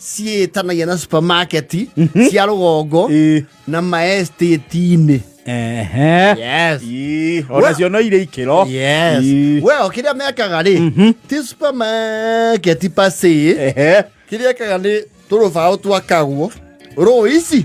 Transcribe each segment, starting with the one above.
ciĩtanagia na supermarket cia rũgongo Ĩĩ. na maestĩti-inĩ Ehe. yes Ii, ona cio no irĩ ikĩro yes Ii. we o kĩrĩa mekaga rĩ ti supermarket pasĩ Ehe. kĩrĩa ekaga nĩ tũrũbaũ twakagwo rũici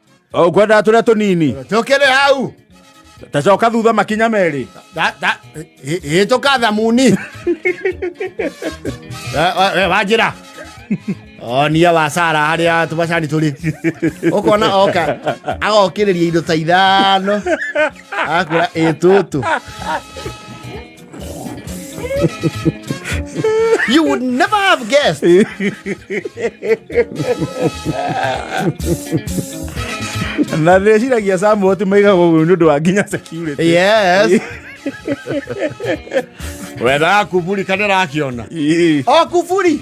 O ngwendaga tũrĩa tũnini tukĩrĩ hau tacoka thutha makinya merĩ Da- da- ĩ- ĩ- ĩtũka thamuni Eh, we- we, wanjĩra onia wa sara harĩa tũmacani tũrĩ ũkona oka agokĩrĩria indo ta ithano akura ĩtũtũ you would never have guessed. na ndĩreciragia samu ati maigagwo ũguo nĩ ũndũ wa nginya security yes wendaga kuburi kana rakiona Ii. o kuburi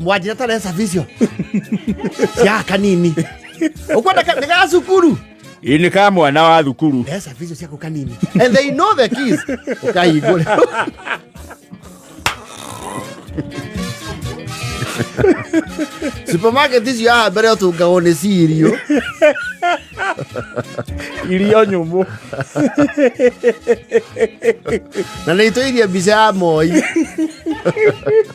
mwanjira taresa vicio cia kanini ukwenda nä ga cukuru ini ka mwana wa thukuru resa vicio ciaku kanini and they know the keys ukahingure supermarket icio haha mbere ũtungagwo nĩ cirio irio nyũmũ na nä itå irie mbica ya moi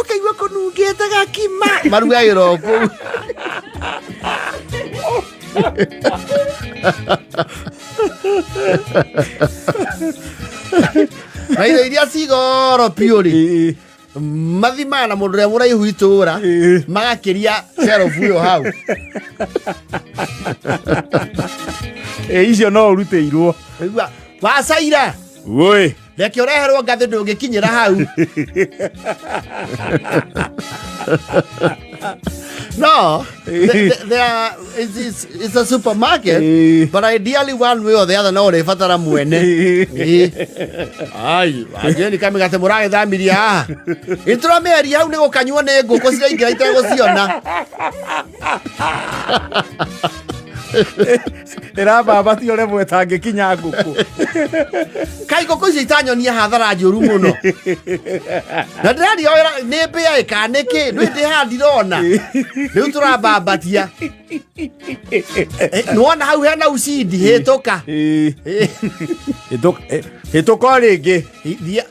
Ũkaigua kũnungĩte gakima. Marugagĩra o kũu. na indo iria cigoro biũ rĩ mathimaga na mũndũ ũrĩa mũraihu itũũra magakĩria serobu ĩyo hau ĩ icio no ũrutĩirwo wacaira woi reke ũreherwo ngathĩ ndũngĩkinyĩra hau no the, the, there are, it's, it's, it's a supermarket Eh. but ideally one way or the other no ũrĩbatara mwene Eh. ai anjũĩ nĩ kamĩgate mũragĩthamirie haha nĩtũramĩaria hau nĩ gũkanyuo nĩ ngũkũ ciraingĩra itegũciona ĩrababa ti ũrĩa mwetangĩkinya ngũkũ kai ngũkũ icio itanyonia hathara njũru mũno na ndĩraria wĩra nĩ mbĩa ĩka nĩkĩ nĩ ndĩha ndirona rĩu tũrambambatia nĩwona hau hena ucindi hĩtũka hĩtũka rĩngĩ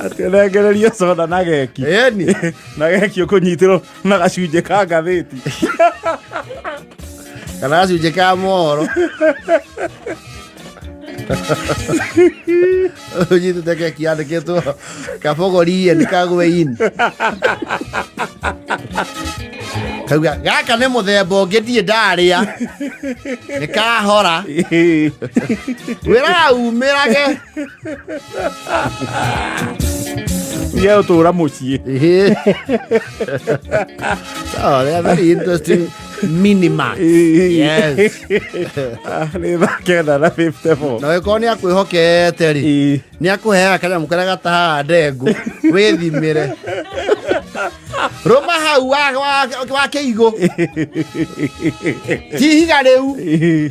arengererio soda na geki yani na geki ũkũnyitĩrwo na gacunjĩ ka ngathĩti kana gacunjĩ ka mohoro ũnyitĩte keki yandĩkĩtwo kabogorie nĩ kagweini kauga gaka nĩ mũthemba ũngĩ ndirĩ ndarĩa nĩ kahora wĩra umĩrage E eu tô a mochila. Não, é very interesting. minima. yes. Nä makena na 50 bob. Na wĩkorwo nĩ akwĩhokete rĩ nĩ akũheaga kanyamũ karĩa gatahaga ndengũ wĩthimĩre rũma hau wa kĩigũ hihiga rĩu